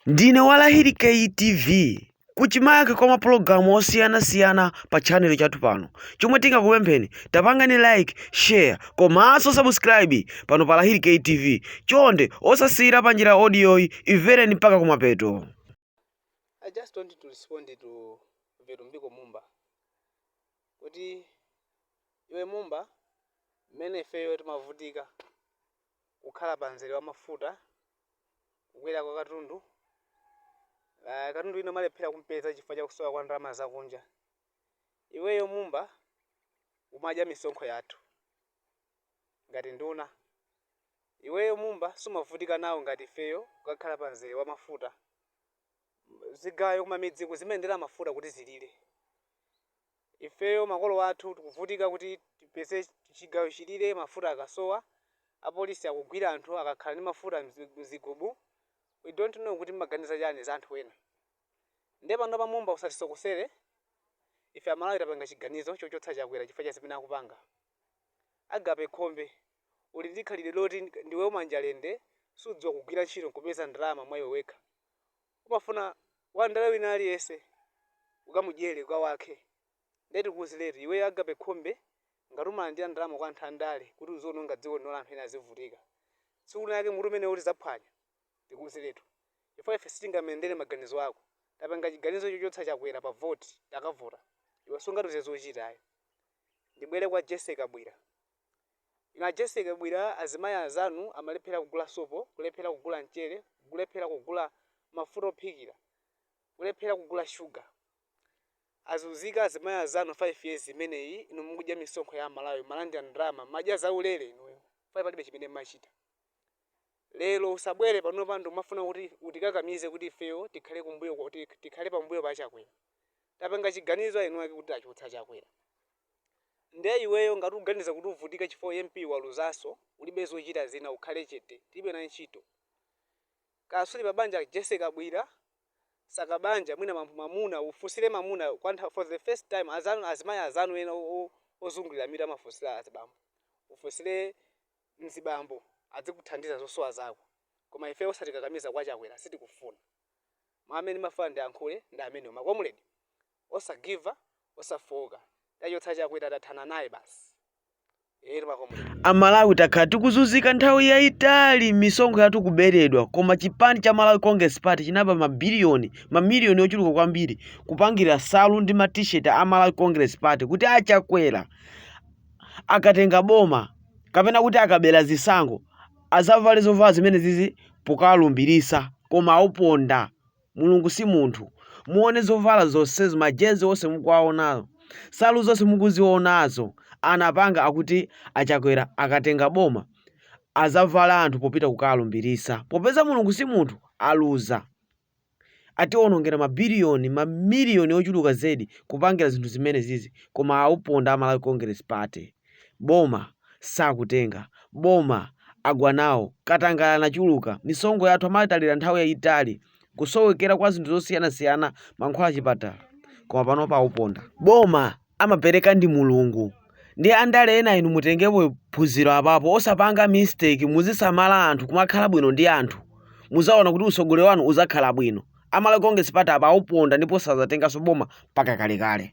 Ndine wa Lahiri K TV. Kuchimake kwa mapulogalamu osiyanasiyana pa channel chathu pano. Chomwe tingakupempheni, tapangani like, share komanso subscribe pano pa Lahiri K TV. Chonde osasiyira panjira audio-yi, imvereni mpaka kumapeto. I just want to respond to Vitumbiko Mumba kuti iwe Mumba mmene ifeyo timavutika kukhala pa mzere wa mafuta, kukwera kwa katundu, uh, katundu wina umalephera kumpeza chifukwa cha kusowa kwa ndalama zakunja. Iweyo Mumba umadya misonkho yathu ngati nduna. Iweyo Mumba sumavutika nawo ngati ifeyo kukakhala pa mzere wa mafuta. Zigayo kumamidziku zimayendera mafuta kuti zilire. Ifeyo makolo athu tikuvutika kuti tipeze chigayo chilire mafuta akasowa, apolisi akugwira anthu akakhala ndi mafuta mzigubu, we dont know kuti mmaganiza chani za anthu ena. Nde panopa Mumba usatisokosere, ife amalawi tapanga chiganizo chochotsa Chakwera chifukwa cha zimene akupanga. Agape Khombe, uli ndi khalidwe loti ndiwe wamanja lende, sudziwa kugwira ntchito nkupeza ndalama mwa iwe wekha. umafuna wandale wina aliyese ukamudyele kwa wake nde tikuuziretu iweyo agape khombe ngati umalandira ndalama kwa anthu andale kuti uziononga dziko lino la anthu ena azivutika tsiku lina lake mutu umenewo tizaphwanya tikuuziretu chifukwa ife sitingayendere maganizo ako tapanga chiganizo chochotsa Chakwera pa vote takavota iwe sungatiuze zochita ayi ndibwere kwa Jessie Kabwila Inu a Jessie Kabwila azimayi anzanu amalephera kugula sopo, kulephera kugula mchere, kulephera kugula mafuta ophikira, kulephera kugula sugar. Azunzika azimayi anzanu 5 years imeneyi inu mukudya misonkho ya Amalawi mmalandira ndalama mmadya zaulere inuyo chifukwa palibe chimene mmachita. Lero usabwere panopa ndikumafuna kuti utikakamize kuti ifeyo tikhale kumbuyo tikhale pambuyo pa Chakwera. Tapanga chiganizo aeniwake kuti tichotsa Chakwera. Nde iweyo ngati uganiza kuti uvutika chifukwa u MP waluzaso ulibe zochita zina ukhale chete tilibe nawe ntchito kaya suli pa banja Jessie Kabwila saka banja mwina mwamuna ufunsire mwamuna kwa nthawi for the first time azanu azimayi azanu ena ozungulira mitu amafunsira azibambo ufunsire mzibambo adzikuthandiza zosowa zako koma ifeyo osatikakamiza kwa chakwera sitikufuna mau amene ndimafuna ndiyankhule ndi amenewo ma comrade osagiva osafooka tachotsa chakwera tathana naye basi eetu makomrade. A Malawi takhala tikuzunzika nthawi yaitali, misonkho yathu kuberedwa, koma chipani cha Malawi Congress Party chinaba ma billion, ma million ochuluka kwambiri kupangira nsalu ndi ma T-shirt a Malawi Congress Party kuti a Chakwera akatenga boma kapena kuti akabera zisankho azavale zovala zimenezizi pokawalumbirisa koma auponda. Mulungu si munthu. Muone zovala zonsezo, majezi onse mukuwaonawo, nsalu zonse mukuzionazo, anapanga akuti a Chakwera akatenga boma azavale anthu popita kukalumbirisa. Popeza Mulungu si munthu, aluza. Ationongera ma billion, ma million ochuluka zedi kupangira zinthu zimenezizi koma auponda a Malawi Congress Party. boma sakutenga boma agwa nawo katangale anachuluka misonkho yathu amatalira nthawi yayitali kusowekera kwa zinthu zosiyanasiyana mankhwala achipatala koma panopa auponda boma amapereka ndi mulungu ndi andale ena inu mutengepo phunziro apapo osapanga mistake muzisamala anthu kumakhala bwino ndi anthu muzaona kuti utsogoleri wanu uzakhala bwino a Malawi Congress Party apa auponda ndipo sazatenganso boma mpaka kalekale